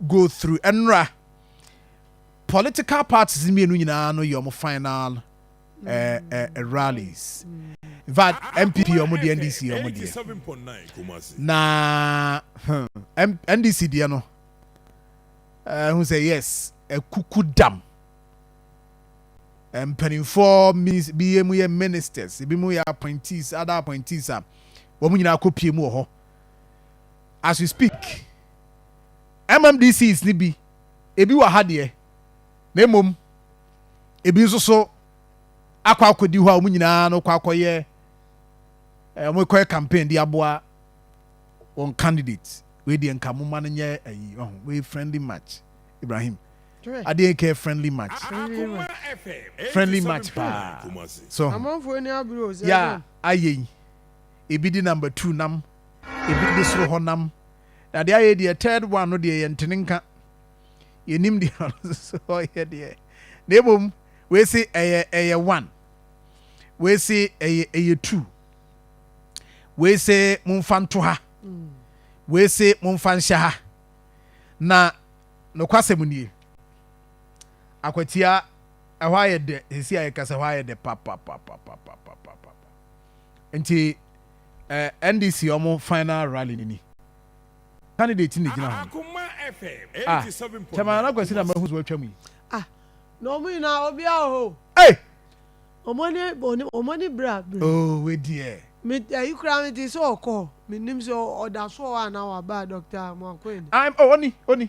Go through ɛnora political parties no mmienu nyinaa no yɛ wɔn final eh, eh, eh, rallies in fact npp yɛ wɔn deɛ ndc yɛ wɔn deɛ na hmm, ndc deɛ no ɛho eh, sɛ yes ɛkuku dam eh, mpanimfoɔ bi yɛ mu yɛ ministers ebi mu yɛ appointees other appointees a wɔn nyinaa kɔ pie mu wɔ hɔ. As we speak, MMDCs no bi, ebi wɔ ha deɛ, na mmom ebi nso so akɔ akɔdi hɔ a wɔn nyinaa no kɔ akɔyɛ, eh, wɔkɔyɛ campaign de aboa wɔn candidate. Wei deɛ nka momma no nyɛ ayi, wahu, wei friendly match. Ibrahim, adeɛ nka yɛ friendly match. Friendly match paa. So, Amanfoɔ ni abiri o, sɛ ya, ayɛ yi, ebi de number two nam. Ebi de soro hɔ nam. Na deɛ ayɛ deɛ third one no deɛ yɛnte ne nka. Yɛnim deɛ ɔno nso ɔyɛ deɛ. Na mmom wei se ɛyɛ ɛyɛ one. Wei se ɛyɛ ɛyɛ two. Wei se momfa nto ha. Wei se momfa nhyɛ ha. Na nokwasɛm nie. Akwatia ɛhɔ ayɛ dɛ sisi a yɛkasa ɛhɔ ayɛ dɛ papapapapapapapa. Nti eh, NDC ɔmo final rally no ni. Candidate na egyina hɔ no. Ah, Chairman Nana Kwasi na mahu so atwa mu yi. Ah, na ɔmo nyinaa obia wɔ hɔ. Ei! Ɔmo ani ɔmo ani bere a bere. Oh, we deɛ. Me ayi koraa me te sɛ ɔkɔ, me nim sɛ ɔda so wɔ hɔ anaa waba Doctor Moakoyene. Ah, oh, oni, oni.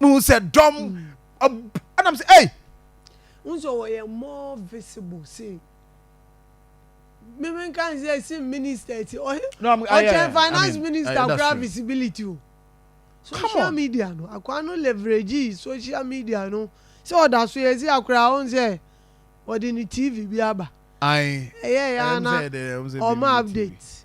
mehu sɛ dɔm ɛnam mm. sɛ ei nso wɔyɛ more visible sei mímí kan sɛ si minister ti ɔkyɛn finance minister kura visibility o social media no akwa no leverage social media no sɛ ɔda so yɛ si akora ahun sɛ ɔde ne tv bi aba ɛyɛ ya na ɔmo update.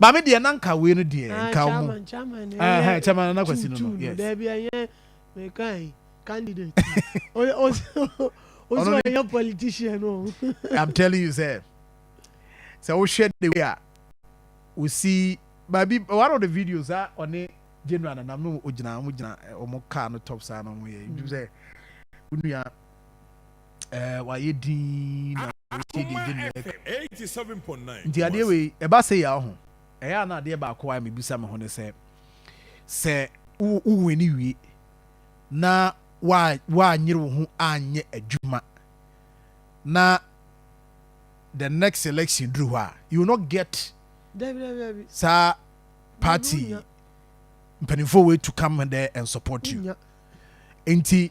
Maame deɛ na nka wei no deɛ ah, nka ɔmo ɛhɛn chairman nana kwasi no no yes dɛbi ɛnyɛ mɛka yi candidate o o so ɛnyɛ politician o i'm telling you sɛ sɛ wohwɛ the way a osi baabi one of the videos a ɔne general nanam no ogyina ɔmo gyina ɔmo car no top saa na ɔmo yɛ ntum sɛ onua. Ɛɛ, wayɛ dinn na wotie deɛ ɛgye nnɛɛ ka. Nti adeɛ wei, ɛba sei a, ɔho, ɛyɛ a na adeɛ baako a mebisa me ho ne sɛ, sɛ wo wini wie na woanyere wo ho anyɛ adwuma na the next election duru hɔ a, you will not get saa party mpanimfoɔ wei to come there and support you. Nti.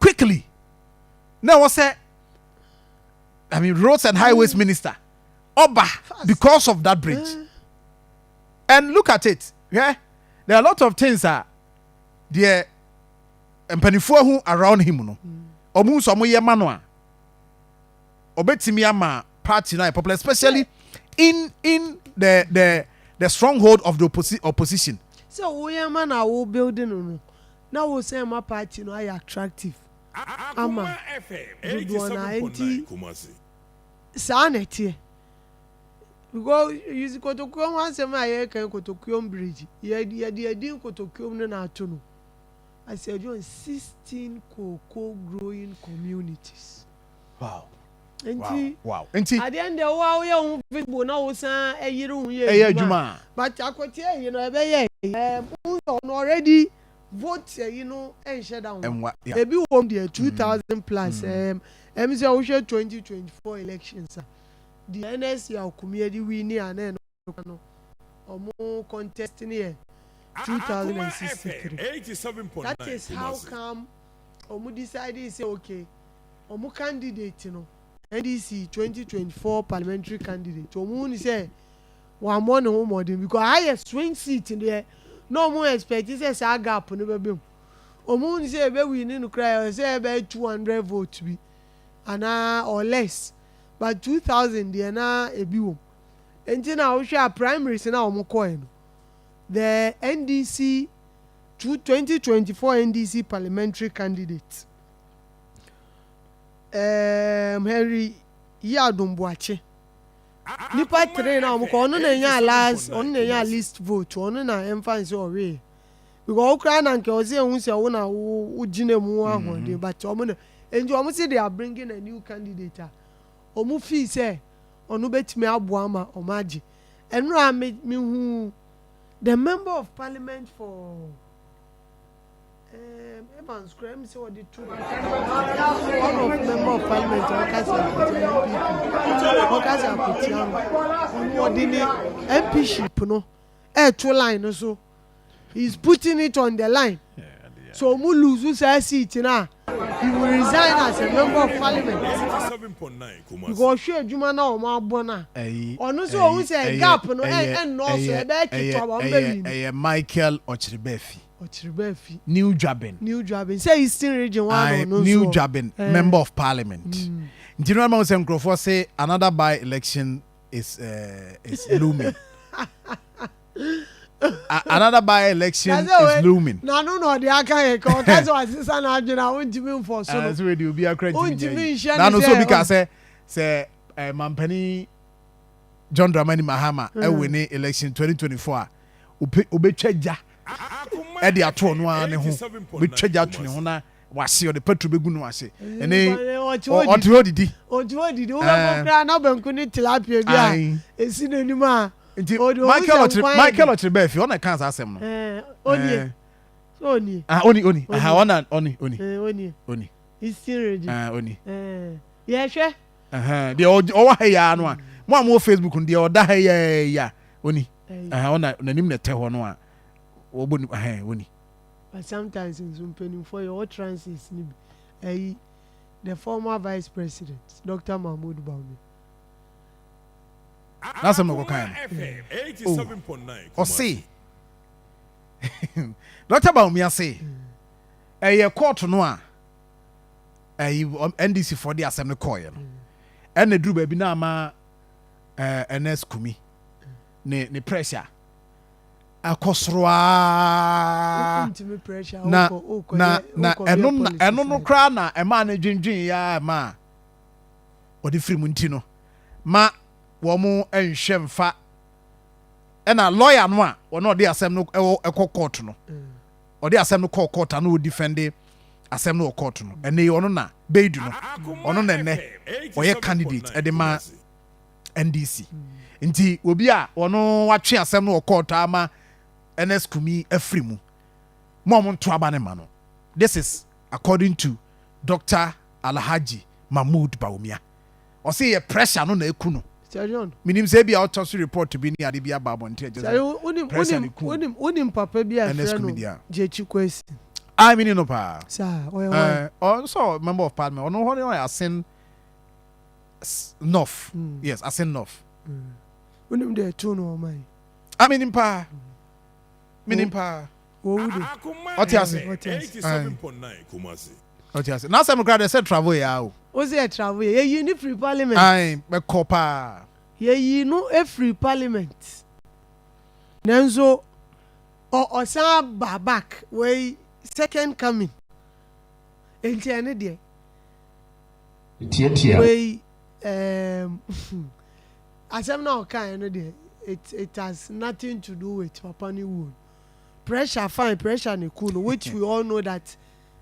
quickly na ɛwɔ sɛ i mean roads and highways mm. minister ɔba because of that bridge mm. and look at it yeah? there are a lot of things a deɛ mpanimfoɔ ho around him no wɔn mm. nso wɔn yɛ ma no a ɔbɛtumi ama party na popular especially in in the the the stronghold of the opposi opposition. sɛ woyɛ ma na wo building no na wo sɛ ma party no ayɛ attractive ama dodoɔ no ara nti saa na ɛteɛ because kotokuo ho asɛm a yɛreka kotokuo bridge yɛde adin kotokuo no na ato no as a join sixteen cocoa growing communities. wow nti wow nti adeɛ no deɛ wo a woyɛ ho visible na wo san ɛyere ho yɛ ɛyɛ adwuma a but akɔteɛ yi no ɛbɛyɛ ɛɛ mo nsɔ no already vote ɛyi no ɛnhyɛ da ho ɛnwa yeah ebi wɔm deɛ two thousand plus ɛɛm ɛm sɛ wohwɛ twenty twenty four elections a deɛ NSC a Okumie de wini a na ɛno nokwar no ɔmo contest no yɛ two thousand and sixty three that is how come ɔmo decidee sɛ okay ɔmo candidate no NDC twenty twenty four parliamentary candidate ɔmo hu no sɛ wammɔ ne ho mmɔden because aha yɛ swing seat deɛ na ɔmo expect sɛ saa gap no bɛbɛ mu ɔmo hu no sɛ ebe win no koraa ɛwɔ sɛ ɛbɛyɛ two hundred vote bi anaa or less but two thousand deɛ na ebi wɔ mu. Enti na wohwɛ a primaries na wɔn kɔɛ no, the NDC two twenty twenty four NDC parliamentary candidate um, Henry Yiadom Boakye nipa three na wɔn kɔ ɔno na enya last ɔno na enya least vote ɔno na ɛnfa nse ɔwee because okura na nka ɔsi ehu sɛ wo na wo gyina mu ahoɔden but wɔn na enti wɔn si they are bringing a new candidate a. wɔfii sɛ ɔno bɛtumi aboa ma wɔagye. Ɛno a me mehuu the member of parliament for um, Evans kura mi sɛ wɔde to one of member of parliament a ɔka sɛ akotia npp ɔka sɛ akotia no ɔno ɔde ne mp ship no ɛɛto line no so. he is putting it on the line sɛ ɔmo lose saa seat no a he will resign as a member of parliament because ɔhwɛ adwuma no a ɔmo abɔ no a ɔno nso ohu sɛ gap no ɛnnɔɔso ɛbɛyɛ ketewa ma ɔmo bɛ win. Ɛyɛ Michael Ɔkyeribaafi. Ɔkyeribaafi. New Dwaben. New Dwaben sɛ eastern region hɔ ano ɔno nso. New Dwaben member of parliament nti no ama wo sɛ nkurɔfoɔ se another by election is is looming. another by-election is looming. n'ano na ɔde aka yɛ ka ɔka sɛ wasesa n'adwene a wontumi mfɔ so no. sɛ wɔde obi akora ntumi nyɛ yi n'ano so obi ka sɛ sɛ mampanin John Dramani Mahama ɛwɔ ne election 2024 a obetwa gya ɛde ato ɔno ara ne ho obetwa gya ato ne ho na wase ɔde petro begu no ase ɛne ɔte hɔ didi ɔte hɔ didi wobɛkɔ koraa na banku ne tilapia bi a esi n'anim a Nti Michael ɔkyere Michael ɔkyere bɛɛ fi ɔna kan saa asɛm no. Onie. Onie. Ah oni oni. Aha ɔna oni oni. Onie. Oni. He's still ready. Ah oni. Yɛhwɛ. Deɛ ɔwɔ ha yi ara no a mo a mo wɔ Facebook no deɛ ɔda ha yi ara yi a oni. Aha ɔna n'anim na ɛtɛ hɔ no a wɔbɔ ni aha oni. But sometimes nso mpanimfoɔ yɛ ɔwɔ trances no bi ayi the former vice president Dr. Mahmoud Bawumia. N'asɛm na ɔkɔkaeɛ no. Oh, ɔse Dɔkta Bawumia se ɛyɛ kɔɔto no a ɛyi NDC foɔ de asɛm no kɔɔeɛ no ɛna duru baabi na ama ɛɛ Ernest Kumi ne ne pressure akɔ soro aa na na na ɛno na ɛno no koraa na ɛmaa no dwindwin ya ɛmaa wɔde firi mu nti no ma wɔn nhwɛ mfa ɛna lɔya no a wɔn ɔde asɛm no ɛwɔ ɛkɔ kɔɔto no ɔde asɛm no kɔɔ kɔɔto ano ɔdi fɛnde asɛm no wɔ kɔɔto no ɛnɛ ɔno na bɛyidu no ɔno na ɛnɛ ɔyɛ candidate ɛde ma ndc nti obi a ɔno watwe asɛm no wɔ kɔɔto ama ns kumi afiri mu mo a ɔmo nto aba ne ma no this is According to Doctor Alhaji Mahmood Bawumia, ɔse yɛ pressure no na aku no. Menim sɛ ebia ɔtɔ so report bi ne ade bi aba abɔnten a ɛkyerɛ sɛ pressure na aku Ernest Kumidi a. Aye menim no paa. Ɔyɛ nso member of parliament, ɔno hɔ no yɛ Asen North, yes Asen North. Wonim deɛ ɛtoo no wɔ ɔman yi? Menim paa, menim paa. Wɔwu de. Ɔte ase. Ɔte ase. Aye. Ɔte ase. N'asɛm no koraa deɛ sɛ travel yɛ ara o. O sɛ yɛ travel yɛ. Yɛyii no firii parliament. Aye. Bɛkɔ paa. Yɛyii no firii parliament. Nanso ɔ, ɔsan ba back. Wei second coming. Enti ɛno deɛ. Tiatia. Wei ɛɛm hmm. Asɛm no a ɔkaeɛ no deɛ, it, it has nothing to do with papa no wuo no. Pressure fine pressure na eku no which we all know that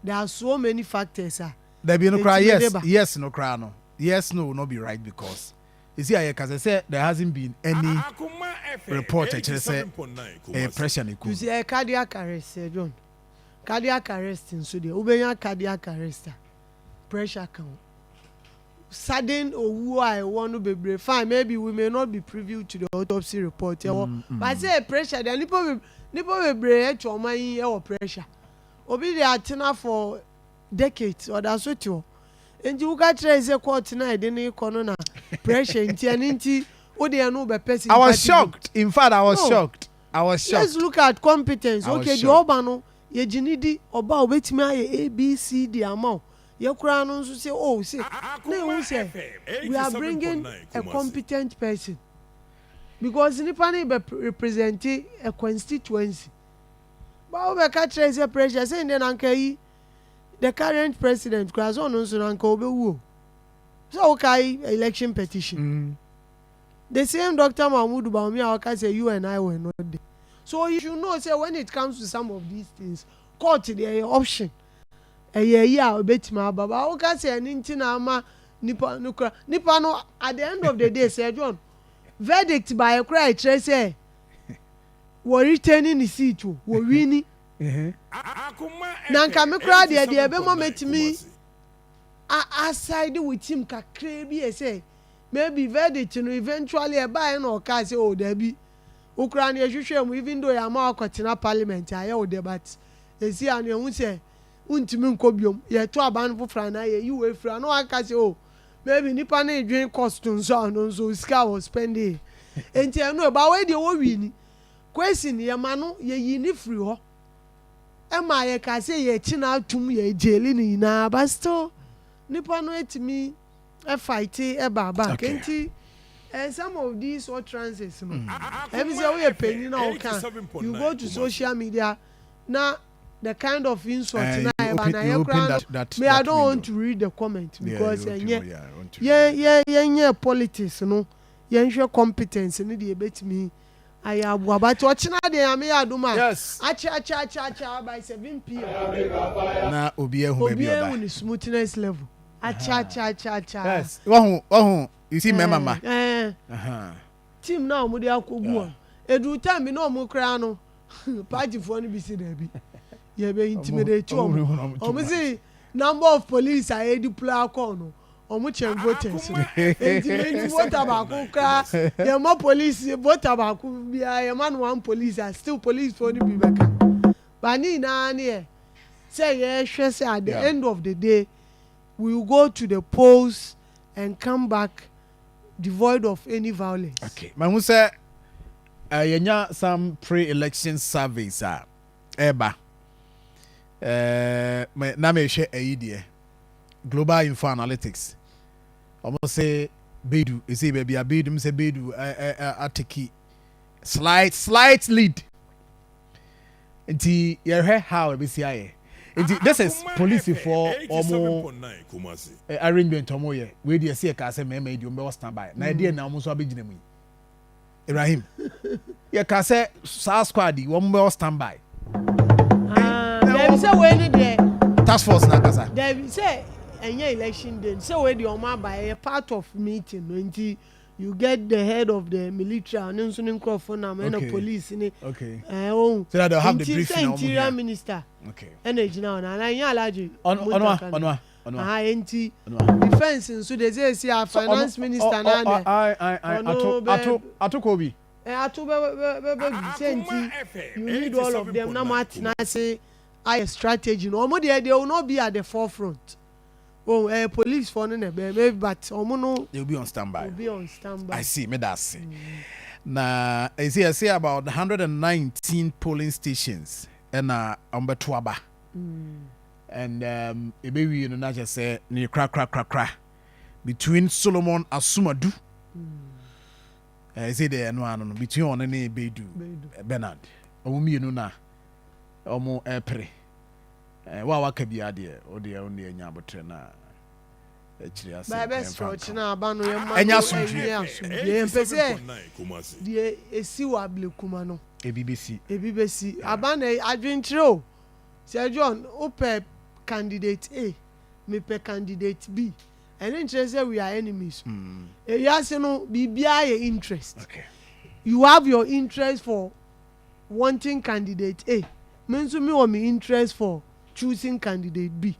there are so many factors a Dabi no koraa etumi de yes ba. yes no koraa no yes no will not be right because esi a yɛka sɛ sɛ there hasn't been any report ɛkyerɛ sɛ ɛyɛ pressure na eku You no. see ɛyɛ cardiac arrest Sir John cardiac arrest nso deɛ wobɛnya cardiac arrest a pressure ka ho. sudden owuo a ɛwɔ no bebree fine maybe we may not be privy to the autopsy report ɛwɔ mm, mm. but sɛ pressure deɛ nipa be nipa bebree atwa ɔma yi ɛwɔ pressure obi de atena for decades ɔda so te hɔ nti woka kyerɛ sɛ court na ɛde ne kɔ no na pressure nti ɛne nti wo deɛ no wobɛpɛ si I was shocked in fact I was no. shocked I was shocked let's look at competence okay deɛ ɔba no yɛgye ne di ɔba obetumi ayɛ abcd ama o Yɛ koraa no nso se oh se na ehu sɛ we are bringing a competent person because nipa no rebɛ represente a constituency but wo bɛ ka kyerɛ sɛ pressure se ndɛ na nka eyi the current president koraa sɛ ɔno nso na nka ɔbɛ wu o sɛ wo kae election petition the same Doctor Mahmoud Bawumia a ɔka sɛ you and I were not there so he should know sɛ when it comes to some of these things court deɛ ɛyɛ option ɛyɛ eyi a ebetumi aba ba. Woka sɛ ɛno nti na ama nipa no kura. Nipa no, at the end of the day, Sir John, verdict baeɛ koraa a ɛkyerɛ sɛ wɔ retain ne seat o, wɔ wini. Na nka me koraa deɛ, deɛ ɛbɛma mɛtumi aside with him kakraa bi yɛ sɛ, maybe verdict no eventually ɛbaeɛ na ɔkaa sɛ oh daabi, Wo koraa no yɛhwehwɛɛ mu even though yɛama wo akɔtena parliament a yɛ wo dɛ but sesei a no yɛhu sɛ wontumi nkɔ biom, yɛto aban foforɔ anaa yɛyi wo afiri a na waka sɛ oh maybe nipa no redwen cost nso a ɔno nso sika a ɔspɛndee nti ɛno ɛ but wei deɛ wɔ wini. Kwesi no yɛma no yɛyii no firi hɔ ɛmaa yɛkaa sɛ yɛkye no atom yɛgyeli no nyinaa but still nipa no atumi fighte ɛba aba okay nti eh, some of these utterances no ɛmi sɛ woyɛ panyin na ɔka you go to social media na the kind of insult na ɛba na yɛ kora no me I don't want to read the comment because ɛnyɛ yɛn yɛn yɛn nyɛ politics no yɛn hwɛ competence ne deɛ ebetumi ayɛ aboa but ɔkyena deɛ yame yɛ adum a akyɛ akyɛ akyɛ akyɛ by seven pm na obi ehu baabi ɔda obi ehu ne smoothness level. akyakyakyakya. yes wahu wahu you see mmarima mma. ɛɛ team na wɔn de akɔ gu wɔn edu time bi na wɔn koraa no paatifoɔ no bi si daabi yɛ bɛ intimidate wɔn wɔn si number of police a yɛ deploy akɔ no wɔn kyɛn voters no eti yɛ ni voter baako koraa yɛ ma police voter baako biara yɛ ma no one police a still police foɔ no bi bɛ ka ba ne nyinaa ne yɛ sɛ yɛ hwɛ sɛ at the end of the day. will go to the polls and come back devoid of any violence. Okay, mahu sɛ uh, yɛnya some pre-election surveys a ɛba. Uh, na mehwɛ ayi deɛ Global Info Analytics. Wɔn se Bedu, ɛsɛ baabi a Bedu, m sɛ Bedu ateki slight slight lead. Nti yɛhwɛ how ɛbɛsi ayɛ. Nti this is polisifoɔ ɔmo eh, arrangement ɔmo yɛ. Wei deɛ ɛsi yɛkaa sɛ mmarima yi deɛ ɔmo bɛwɔ stand by. Na ɛdeɛ na ɔmo nso abɛgyina mu yi. Ibrahim, yɛkaa sɛ saa squad yi ɔmo bɛwɔ stand by. Daabi sɛ wei ne deɛ. Task force na ankasa. Daabi sɛ ɛnyɛ election day sɛ wei deɛ ɔmo aba ɛyɛ part of meeting no nti. You get the head of the military a ɔno nso ne nkurɔfoɔ nam ɛna Okay. police ne Okay. ɛɛ ohun So that they'll have the nti briefing sɛ a wɔn interior hia. minister Okay. ɛna egyina hɔ na ana ɛnyɛ alagye Ɔno ɔno a muntaka ɔno no a ɔno a aha enti ɔno a. defence nso de sɛ esi a So ɔno- finance ɔ- minister ɔ- naa ɔ- na aye, aye, aye. ɔno Ato bɛ- ato ato kɔ bi. ɛ ato bɛ bɛ bɛ bɛ bi sɛ nti you need all of them na mo atena ase ayɛ strategy no wɔn deɛ they will not be at the forefront. Oh ɛyɛ police foɔ no na ɛbɛyɛ me but ɔmo no. They will be on standby. Will be on standby. I see meda ase. Na ɛsɛ yɛsɛ about one hundred and nineteen polling stations ɛna ɔmo bɛto aba. And um, ebe wie no na kyɛ sɛ ne kra kra kra kra between Solomon Asumadu. Ɛsɛ deɛ ɛno ano no between ɔne ne Bedu Bernard ɔmo mmienu na ɔmo ɛpere. Eh, wo a waka biara deɛ, wo deɛ, wo deɛ nya abotrɛ na akyire ase Baa bɛsrɛ ɛmfa nka ɔkyena aba no yɛmma Ɛnyɛ no asomdwoeɛ. ɛnyɛ asomdwoeɛ yɛmpɛ sɛ deɛ ɛsi wɔ ablekuma no Ebi bɛsi. ebi bɛsi aba na adwenkyerɛ o Sir John wopɛ candidate A mepɛ candidate B ɛno nkyerɛ sɛ we are enemies o Ewiase no biribiara yɛ interest Okay. you have your interest for wanting candidate A, me nso me wɔ me interest for choosing candidate B.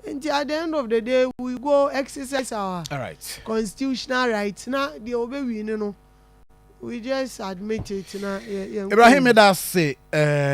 Nti at the end of the day we go exercise our Alright. constitutional rights na deɛ ɔbɛ win no we just admit it na yɛ yɛnkɔ Ibrahim anim. meda ase eh,